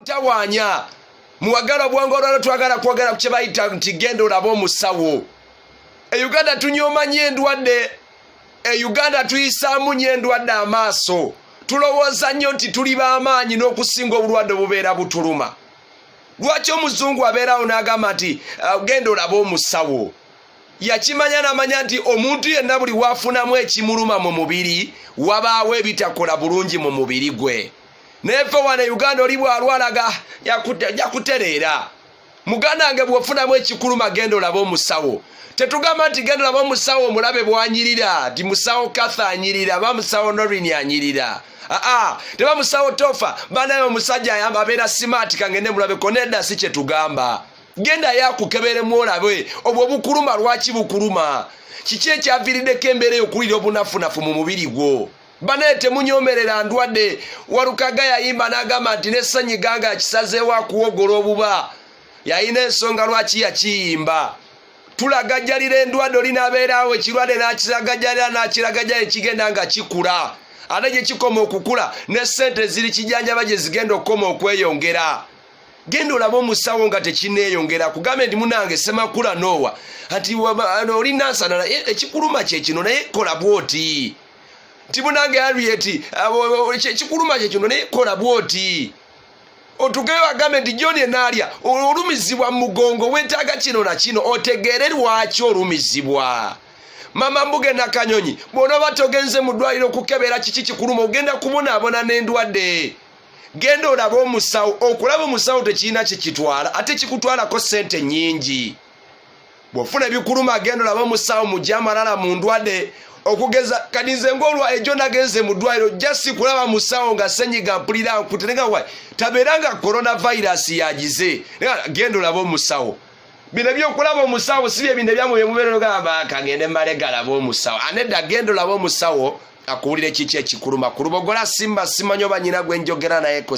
tawanya muwagala obwongo olwalo twagala kwogera ku kyebayita nti genda olaba omusawo e uganda tunyoma nyo endwadde e uganda tuyisaamu nyo endwadde amaaso tulowooza nnyo nti tuli b'amaanyi n'okusinga obulwadde obubeera butuluma lwaki omuzungu abeerawo n'agamba nti uh, genda olaba omusawo yakimanya namanya nti omuntu yenna buli wafunamu ekimuluma mu mubiri wabaawo ebitakola bulungi mu mubiri gwe neve wana e uganda oli bwalwalaga jakutereera muganange bwofunamu ekikuluma genda olaba omusawo tetugamba nti genda olaba omusawo omulabe bwanyirira nti musawo katha anyirira ba musawo norin anyirira aa teba musawo tofa banaye omusajja ayamba abeera simaati kangende mulabeko nedda si kyetugamba genda yakukeberemu olabe obwo bukuluma lwaki bukuluma kiki ekyaviiriddeko embeera eyo okuwulira obunafunafu mu mubiri gwo banaye temunyomerera ndwadde walukaga yayimba nagamba nti nesanyi ganga yakisazeewo akuwogola obuba yayina ensonga lwaki yakiyimba tulagajalira endwadde olinabeerawo ekirwadde nakiragajalira nakiragaja ekigenda nga kikula ate gyekikoma okukula ne sente ziri kijanjaba gyezigenda okukoma okweyongera genda olaba omusawo nga tekineeyongera kugambe nti munange semakula noowa ati olinansana ekikuluma kyekino naye kola bwoti nti munange harriet kikuluma kyekino naye kola bwoti otugeyo agambe nti john enaalya olumizibwa mu mugongo wetaaga kino na kino otegeere lwaki olumizibwa mama mbuge nakanyonyi bwonoba togenze mu ddwaliro okukebera kiki kikuluma ogenda kubonaabona n'endwadde genda olabe omusawo okulaba omusawo tekirina kyekitwala ate kikutwalako sente nyingi bwofuna ebikuluma agenda olaba omusawo mugye amalala mu ndwadde okugeza kati nze ngaolwa ejo nagenze mu ddwaliro jasi kulaba musawo nga senyiga mpulira nkute nenga wa tabeera nga coronavirus yagize genda olaba omusawo bino ebyokulaba omusawo si byebintu ebyamwe byemubeerero gamba kagende male galaba omusawo anedda genda olaba omusawo akuwulira ekiki ekikuluma ku lubogola simba simanyi oba nyina gwenjogera nayeko